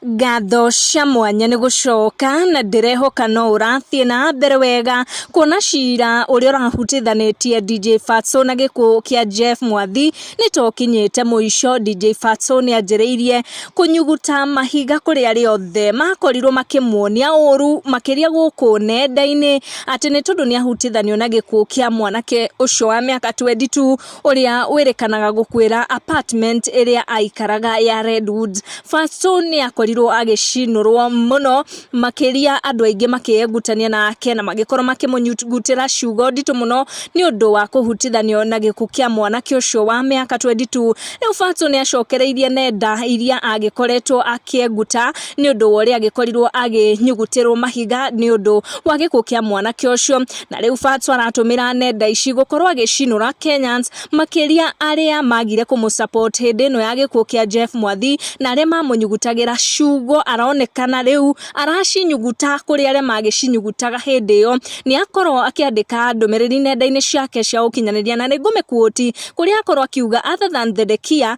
Ngatho cia mwanya nĩ gũcoka na ndĩrehoka no ũrathiĩ na mbere wega kuona cira ũrĩa ũrahutithanĩtie DJ Fatso na gĩkuũ kĩa Jeff Mwathi nĩ ta ũkinyĩte mũico. DJ Fatso nĩ anjĩrĩirie kũnyuguta mahiga kũrĩ arĩa othe makorirwo makĩmuonia ũũru makĩria gũkũ nenda-inĩ atĩ nĩ tondũ nĩ ahutithanio na gĩkuũ kĩa mwanake ũcio wa mĩaka 22 ũrĩa wĩrĩkanaga gũkuĩra apartment ĩrĩa aikaraga ya Redwood. Fatso nĩ akorirwo agĩcinũrwo mũno makĩria andũ aingĩ makĩengutania nake na magĩkorwo makĩmũnyugutĩra ciugo nditũ mũno nĩ ũndũ wa kũhutithanio na gĩkuũ kĩa mwanake ũcio wa mĩaka 22. Rĩu Fatso nĩ acokereirie nenda iria agĩkoretwo akĩenguta nĩ ũndũ wa ũrĩa agĩkorirwo akĩnyugutĩrwo mahiga nĩ ũndũ wa gĩkuũ kĩa mwanake ũcio, na rĩu Fatso aratũmĩra nenda ici gũkorwo agĩcinũra Kenyans, makĩria arĩa magire kũmũ support hĩndĩ ĩno ya gĩkuũ kĩa Jeff Mwathi, na arĩa mamũnyugutagĩra ciugo, aronekana rĩu aracinyuguta kũrĩ arĩa magĩcinyugutaga hĩndĩ ĩyo, nĩ akorwo akĩandĩka ndũmĩrĩri nenda-inĩ ciake cia ũkinyanĩria, na nĩ ngũmĩ quote kũrĩa akorwo akiuga other than the Dekia.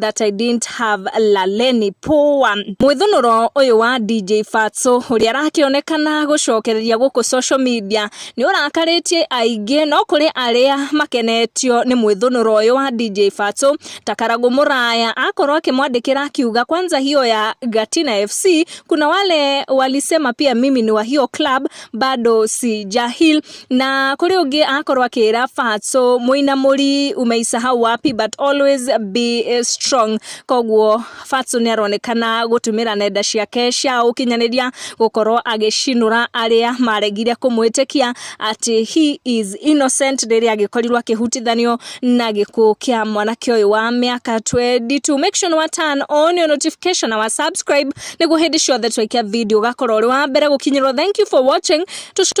That I didn't have Laleni poa. Mwĩthũnũro ũyũ wa DJ Fatso ũrĩa arakĩonekana gũcokereria gũkũ social media nĩ ũrakarĩtie aingĩ no kũrĩ arĩa makenetio nĩ mwĩthũnũro ũyũ wa DJ Fatso ta Karagũ Mũraya akorwo akĩmwandĩkĩra akiuga kwanza hiyo ya Gatina FC kuna wale walisema pia mimi ni wa hiyo club bado si jahil Na kũrĩ ũngĩ akorwo akĩra Fatso mũinamũri umeisahau wapi but always be eh, strong. Koguo Fatso nĩ aronekana gũtũmĩra nenda ciake cia ũkinyanĩria gũkorwo agĩcinũra arĩa maregire kũmwĩtĩkia atĩ he is innocent rĩrĩa agĩkorirwo akĩhutithanio na gĩkuũ kĩa mwanake ũyũ wa mĩaka 22. Make sure nĩ wa turn on your notification na wa subscribe nĩguo hĩndĩ ciothe twaikia video ũgakorwo ũrĩ wa mbere gũkinyĩrwo. Thank you for watching. Tũc-